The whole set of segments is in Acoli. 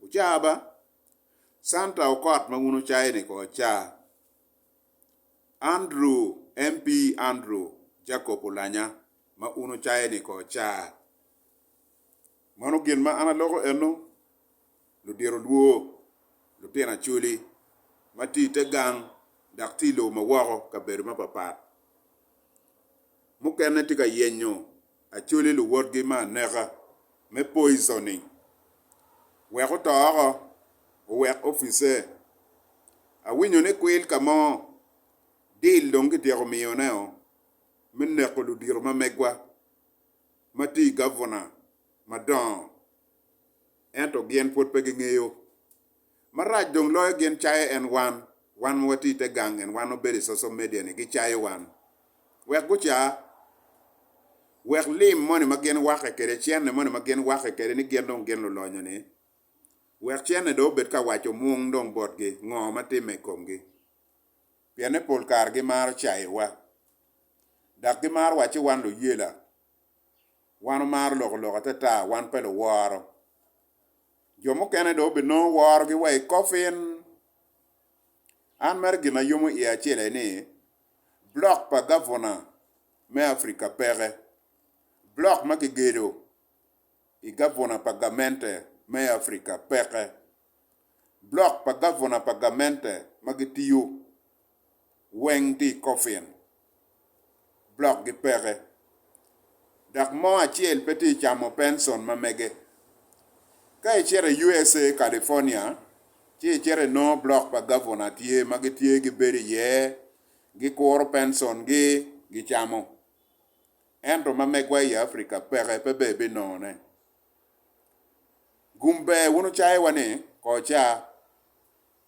Wucaa ba, Santa okot ma wun wucayo-ni ko acaa. Andrew, MP Andrew, Jacob olanya ma un wucayo-ni ko acaa. Mano gin ma an aloko eno, ludiro lwor, lutino acoli, ma tye i te gang dok tye i lobo ma woko, kabedo mapapat. Mukene tye ka yenyo Acholi luwotgi me aneka me poisoning wek oto oko owek ofice. Awinyo ni kwil ka mo deal dong kityeko miyoneo me neko ludito ma megwa ma tye i gavuna madongo ento gin pwod pe gingeyo. Marac dong loyo gin cayo en wan, wan ma watye i te gang en wan ma bedo i social media ni gicayo wan wek guca wek lim moni ma gin wake kwede cene moni ma gin wake kwede ni gin dong gin lulonyo ni wek cene dong obed ka waco mung dong botgi ngo ma timme i komgi pien ni pol kare gimaro cayo wa dak gimaro waci wan luyela wan omaro loko lok atata wan pe luworo. Jo mukene dong obinongo worogi wa i kofin. An mere gin ma yomo iya acel aye ni blok pa gavuna me Africa peke. Blok ma kigedo i gavuna pa gamente me Africa peke. Blok pa gavuna pa gamente ma gitiyo weng tye i kofin, blokgi peke, dok mo acel pe tye camo penson ma mege. Ka icito i USA. California ci icito inongo blok pa gavuna tye ma gitye gibedo iye, gikuro pensongi gicamo. Ento ma megwa i Africa peke, pe ber binongone. Gum ber wun wucayowa ni, Kor ca.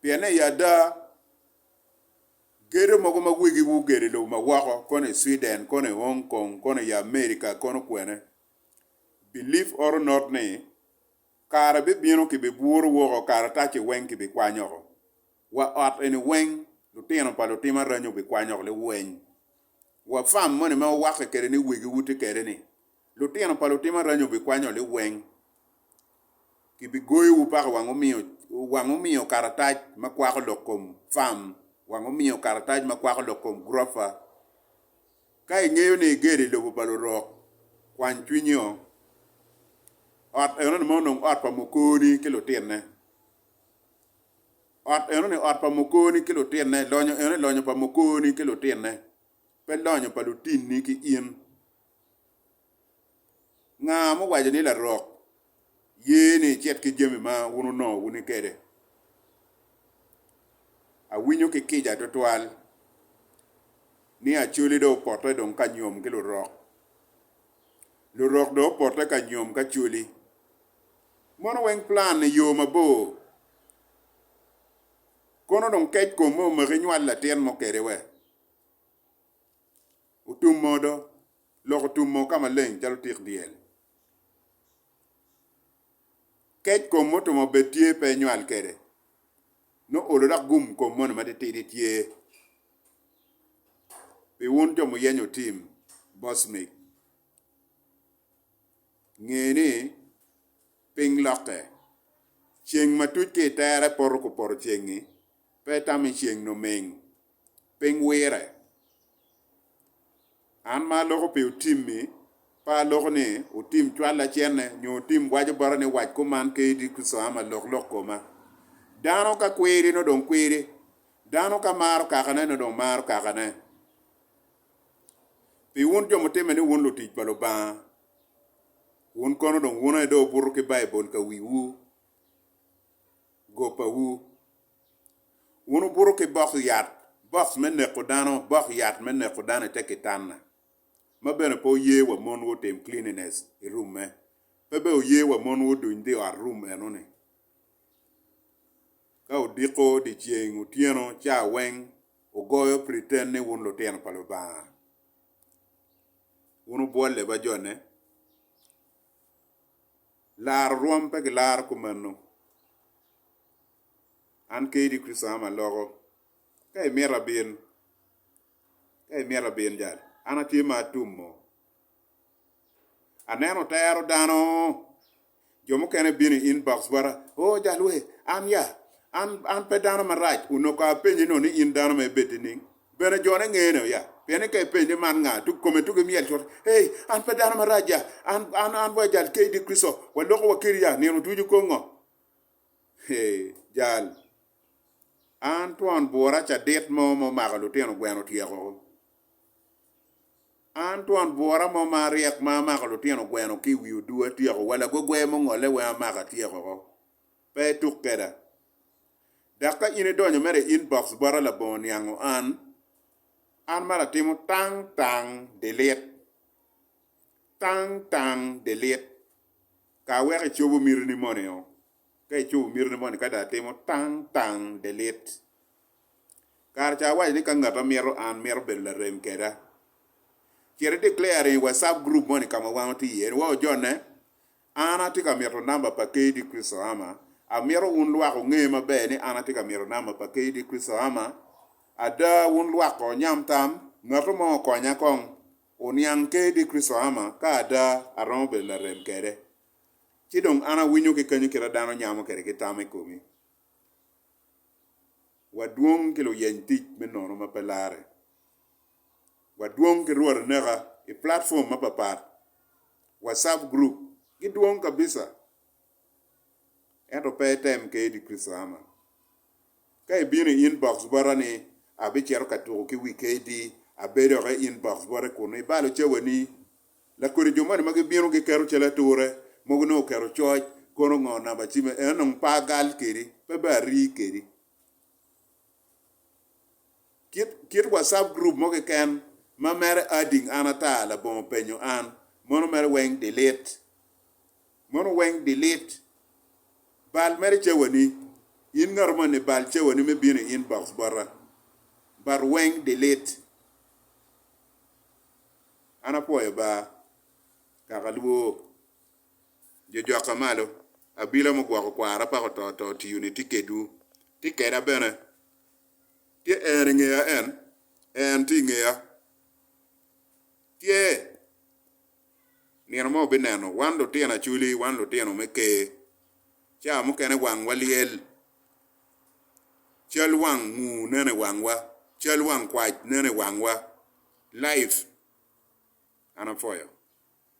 pienne i ada gedo mogo ma wegi wugedo i lobo ma woko kono i Sweden kono i Hong Kong kono i America kono kwene believe or not ni kare bibino ki bi buro woko karataci weng ki bi kwany oko wa ot eni weng lutino pa lutim aranya obi kwany oko liweny wa farm moni ma wuwake kede ni wegi wuti kede ni Lutino pa lutim aranya obikwanyo liweng, kibigoyowu pako wang omiyo karatac ma kwako lok kom fam, wang omiyo karatac ma kwako lok kom gurofa. Ka ingeyo ni igedo i lobo pa lurok, kwany cwinyi o. Ot enoni ma onongo ot pa mokoni ki lutinne. Ot enoni ot pa mokoni ki lutinne, lonyo enoni lonyo pa mokoni ki lutinne, pe lonyo pa lutinni ki in. Nga ma owaco ni larok ye ni icit ki jami ma wun wunongo wuni kede? Awinyo ki kica twatwal ni Acholi dong opote dong ka nyom ki lurok. Lurok dong opote ka nyom ki Acholi. Mono weng plan ni yo mabor. Kono dong kec kom ma omaki inywal latin mo kede we? Otumo do, lok otumo ka maleng calo tik dyel. Kec kom mutumo bed tye pe enywal kede, nongo olo dok gum kom moni matitidi tye pi wun jo muyenyo tim Bosmik. Nge ni piny lokke, ceng ma tuc ki i tere poto ku poto ceng-ngi Pe tami ceng numing piny wire. An ma aloko pi otimmi, pe aloko ni otim cwal lacenne nyo otim waco bota ni wac kuman ki idit kucaa ma lok lok koma. Dano ka kwiri nongo dong kwiri, dano ka maro kakane nongo dong maro kakane. Pi wun jo mutimme ni wun lutic pa Lubanga, wun kono dong wun aye dong wubuto ki Baibul ka wiwu. go pawu. Wun wubuto ki bok yat, box me neko dano, bok yat me neko dano i te kitanna, ma bene pe wuye wa mon wutim cleanliness i room me, pe bene wuye wa mon wuduny dhi ot room eno ni. Ka wudiko dyeceng, otyeno, ca weng, wugoyo pretend ni wun lutino pa Lubanga. Wun wubwolle ba jone, laro rwom pe gilaro kumeno. An kadi Kricito am aloko, ka imito abin, ka imito abin jalo, an atye ma atumo. Aneno otero dano, jo mukene bino i inbox bota, oo jal we, an ya, an pe dano marac, onongo apenyi ni in dano ma ibeddi nining? Bene jone ngene ya, pien ni ka ipenye man nga, dok kome dok imyel cut, Ei, an pe dano marac ya, an, an, an wa jal kee idi Kricito, waloko wa kedi ya nino ducu kong ngo? Ei, jal, an twon bura cadit mo ma omako lutino gweno otyeko, an twon bura mo ma aryek ma amako lutino gweno ki iwi odu atyeko, wa lagogwe mongole weng amako atyeko. pe ituk keda. Dok ka in idonyo mere i inbox bota labongo niango an, an mere atimo tang tang delete. Tang tang delete. Ka weko icobo mitini moni o. Ka icobo mitini moni ka dong atimo tang tang delete. Kare ca awaco ni ka ngat ma mito an mito bedo larem keda, cit i declare i WhatsApp group moni ka ma wan watye iye ni wa ojone An atye ka mito namba pa KD Chrisohama. Amito wun lwak wunge maber ni an atye ka mito namba pa KD Chrisohama. Ada, wun lwak ko wunyam tam, Ngatu mo okonya kong oniang KD Chrisohama ka ada aromo bedo larem kwede. Ci dong an awinyo ki kenyo kite dano nyamo kwede ki tam i komi. Wadwong ki luyeny tic me nono ma pe larre. Wadwong ki Rwot aneka i platform mapapat. Whatsapp group gidwong kabisa, ento pe item kedi Kristo ama. Ka ibino i inbox bota ni abicito ka tuku ki wi KD, abed dok i inbox bote kunu ibalo cawani. Lakodi jo moni ma gibino giketo cal ature, mogo nongo oketo coc, kono ngo namba cim eno nongo pe agal kedi, pe bea ari kedi. Kit kit WhatsApp group mo keken ma mere adding an ata labongo penyo an mono mere weng delete mono weng delete bal mere cawani in ngato moni bal cawani me bino i inbox bota but weng delete an apwoyo ba kaka lwoo jo jokka malo abila mugwoko kwara pako to to tiyoni tye kedwu tye keda bene. Tye en i ngeya en? En tye i ngeya. Tye. Nino mo wubineno, wan lutino Acholi, wan lutino me Ker, ca mukene wangwa lyel, cal wang mur neno i wangwa, cal wang kwac neno i wangwa, life. An apwoyo.